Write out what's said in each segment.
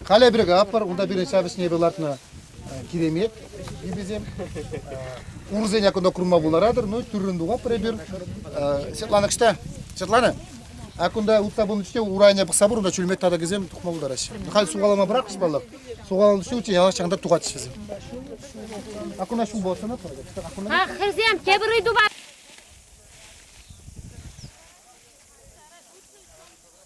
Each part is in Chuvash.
Халӗ пире капӑр, унта пирӗн ҫавӑсне эпӗ лартнӑ киремет йӗпесем. Урсене кунта курма пуларатӑр, ну тӳррӗн тухатпӑр эпир. Сытланӑкҫта, сытланӑ. А кунта утта пулнӑ чухне урайне пӑхса пур, унта чӳлмек татӑкӗсем тухма пултараҫҫӗ. Халь сухалама пӑрахрӗҫ паллах. Сухаланӑ чухне утин яланах чаканта тухатчӗҫ вӗсем. А кунта ҫул палсанат А хӗрсем тепӗр ыйтупа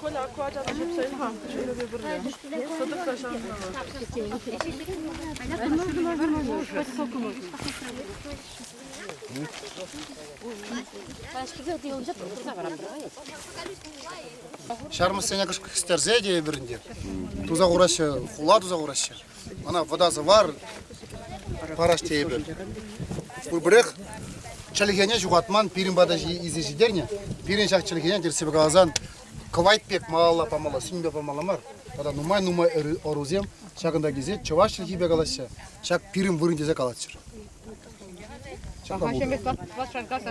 Коля, ку ачана ҫапса им-ха, ҫулӗпе пӗрле. Сӑтӑк та ҫавӑнтарас. Ҫармӑссене кӑшт кӗстерсе те эпир ӗнтӗ туса хураҫҫӗ, хула туса хураҫҫӗ. ӑна вӑтасӑвар парас тейӗпӗр. Пурпӗрех чӗлхене ҫухатман пирӗн пата илсе ҫитернӗ. Пирӗн ҫак чӗлхене тӗрӗсене каласан кӑвайт пек малалла памалла, сӳнме памалла мар. Тата нумай-нумай ӑрусем ҫакӑнта килсе чӑваш чӗлхипе калаҫҫӗ. Ҫак пирӗн вырӑн тесе калаччӑр. Ҫапла Паха ҫемес вас вас шаркаса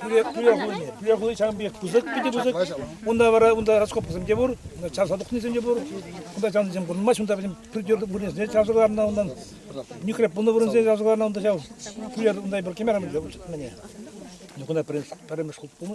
Пӳле пӳле хулине пӳле хули ҫавӑн пек пысӑк питӗ пысӑк. Унта вара унта раскопкӑсем те пур, чавса тухнисем те пур. Унта чавнисем курӑнмасть, унта вӗсем притер вырӑнсене чавса кӑларнӑ унтан нӳхреп пулнӑ вырӑнсене чавса кӑларнӑ унта ҫав пӳлер унта пӗр кӗмер мӗне. Кунта пӗрремӗш хут пулнӑ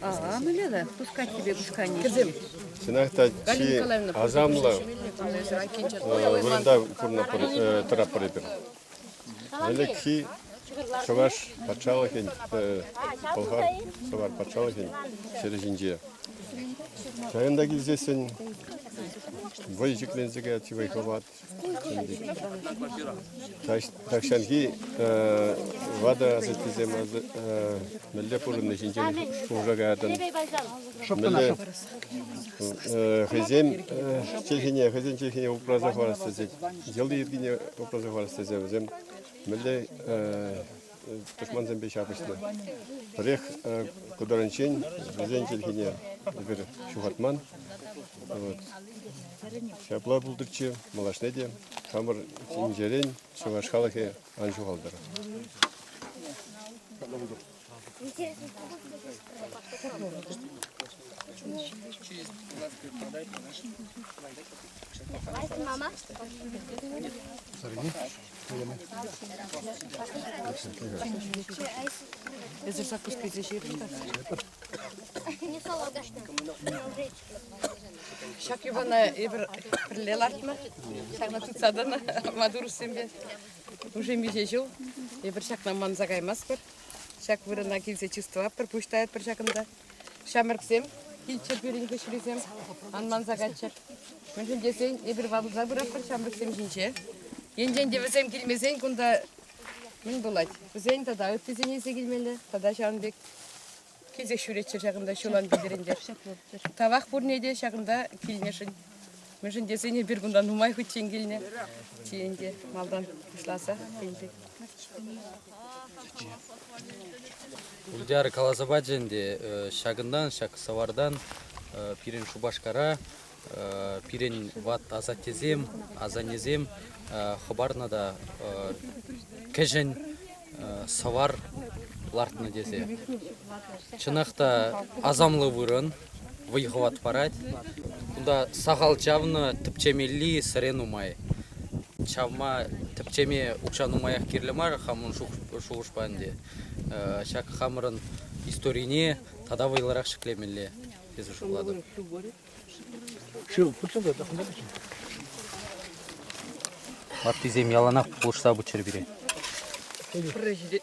А, ну да, пускать тебе пускание Чӑнах та чи асамлӑ э, вырӑнта курнӑ тӑраппӑр эпир. Ӗлӗкхи чӑваш патшалӑхӗн, э, Пӑлхар Сӑвар патшалӑхӗн ҫӗрӗ ҫинче. Ҫакӑнта килсессӗн вӑй ҫӗкленсе каять, чи вӑй хывать. Тахҫанхи вата асаттесем мӗнле пурӑнни ҫинчен шухӑша каятӑн. Мӗнле хӑйсем чӗлхене, хӑйсен чӗлхене упраса хӑварас тесен, йӑли-йӗркине упраса хӑварас тесе вӗсем мӗнле тӑшмансемпе ҫапӑҫнӑ. Пӗрех пытарӑнчен вӗсен чӗлхине эпир ҫухатман. Ҫапла пултӑрччӗ малашне те. Хамӑр тӗнчерен чӑваш халӑхӗ ан ҫухалтӑр. Мама? Эсӗ шаккӑш килсе ҫиеп-ҫке. Ҫак юпана эпир пӗрле лартма, ҫакна тытса тӑнӑ Мадуровсемпе. Уже миҫе ҫул эпир ҫакна манса каймастпӑр. Ҫак вырӑна килсе чувствоватпӑр, пуҫ таятпӑр ҫакӑнта. Ҫамрӑксем килччӗр пирӗн хыҫрисем, анманса кайччӑр. Мӗншӗн тесен эпир валӑса пыратпӑр ҫамрӑксем ҫинче. Енчен те вӗсем килмесен кунта мӗн пулать? Вӗсен тата ыттисене илсе килмелле, тата ҫавӑн пек килсех ҫӳреччӗр ҫакӑнта ҫулан питӗренте. Тавах пурне те ҫакӑнта килнӗшӗн. Мӗншӗн тесен эпир кунта нумай хутчен килнӗ. Тен те малтан пуҫласа килтӗк. Ултияр каласа пачӗ ӗнтӗ, ҫакӑнтан, ҫак сӑвартан пирӗн Шупашкара пирӗн ват асаттесем, асаннесем хӑпарнӑ та кӗҫӗн сӑвар лартнӑ тесе. Чӑнах та асамлӑ вырӑн. вӑй-хӑват парать. Кунта сахал чавнӑ, тӗпчемелли сӗре нумай. Чавма, тӗпчеме укҫа нумаях кирлӗ мар хамӑн шухӑшпа ӗнтӗ. Ҫак хамӑрӑн историне тата вӑйлӑрах ҫӗклемелле тесе шутлатӑп. Ваттисем яланах пулӑшса пыччӑр пире. Президент